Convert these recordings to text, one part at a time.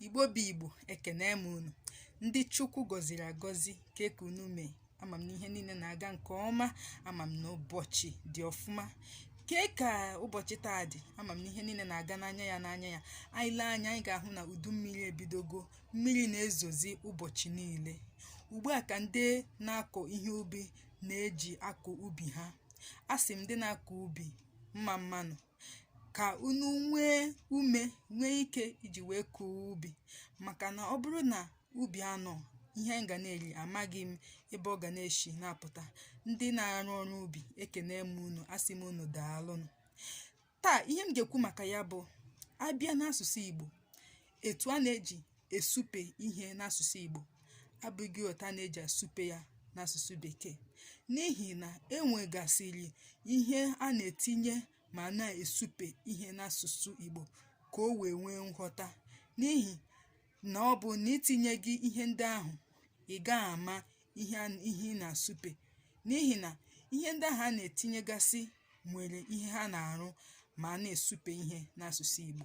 igbo bụ igbo ekene m unu ndị chukwu gọziri agọzi kee ka unu mee ama m na ihe niile na-aga nke ọma ama m na ụbọchị dị ọfụma kee ka ụbọchị taa dị ama m na ihe niile na-aga n'anya ya n'anya ya anyị lee anya anyị ga-ahụ na udu mmiri ebidogo mmiri na-ezozi ụbọchị niile ugbu a ka ndị na-akọ ihe ubi na-eji akọ ubi ha a sị m ndị na-akọ ubi mma mmanụ ka unu nwee ume nwee ike iji wee kọọ ubi maka na ọ bụrụ na ubi anọ ihe m ga na-eri amaghị m ebe ọ ga na-eshi na-apụta ndị na-arụ ọrụ ubi ekene m unu asị m unu daalụnụ taa ihe m ga-ekwu maka ya bụ a bịa n'asụsụ Igbo etu a na-eji esupe ihe n'asụsụ Igbo abụghị otu a na-eji asupe ya n'asụsụ Bekee n'ihi na e nwegasịrị ihe a na-etinye ma a na-esupe ihe n'asụsụ Igbo ka o wee nwee nghọta n'ihi na ọ bụ na i tinyeghị ihe ndị ahụ ị gaghị ama ihe ị na-asupe n'ihi na ihe ndị ahụ a na-etinyegasị nwere ihe ha na-arụ ma a na-esupe ihe n'asụsụ Igbo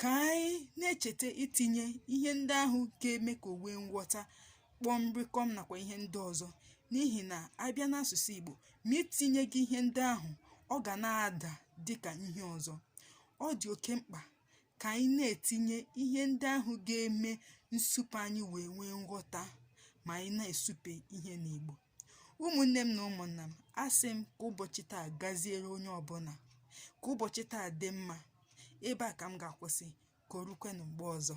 ka anyị na-echeta itinye ihe ndị ahụ ga-eme ka o nwee nghọta kpọm rịkọm nakwa ihe ndị ọzọ n'ihi na a bịa n'asụsụ Igbo ma i tinyeghị ihe ndị ahụ ọ ga na-ada dị ka ihe ọzọ ọ dị oke mkpa ka anyị na-etinye ihe ndị ahụ ga-eme nsupe anyị wee nwee nghọta ma anyị na-esupe ihe n'Igbo ụmụnne m na ụmụnna m asị m ka ụbọchị taa gaziere onye ọbụla ka ụbọchị taa dị mma ebe a ka m ga-akwụsị ka o rukwenụ mgbe ọzọ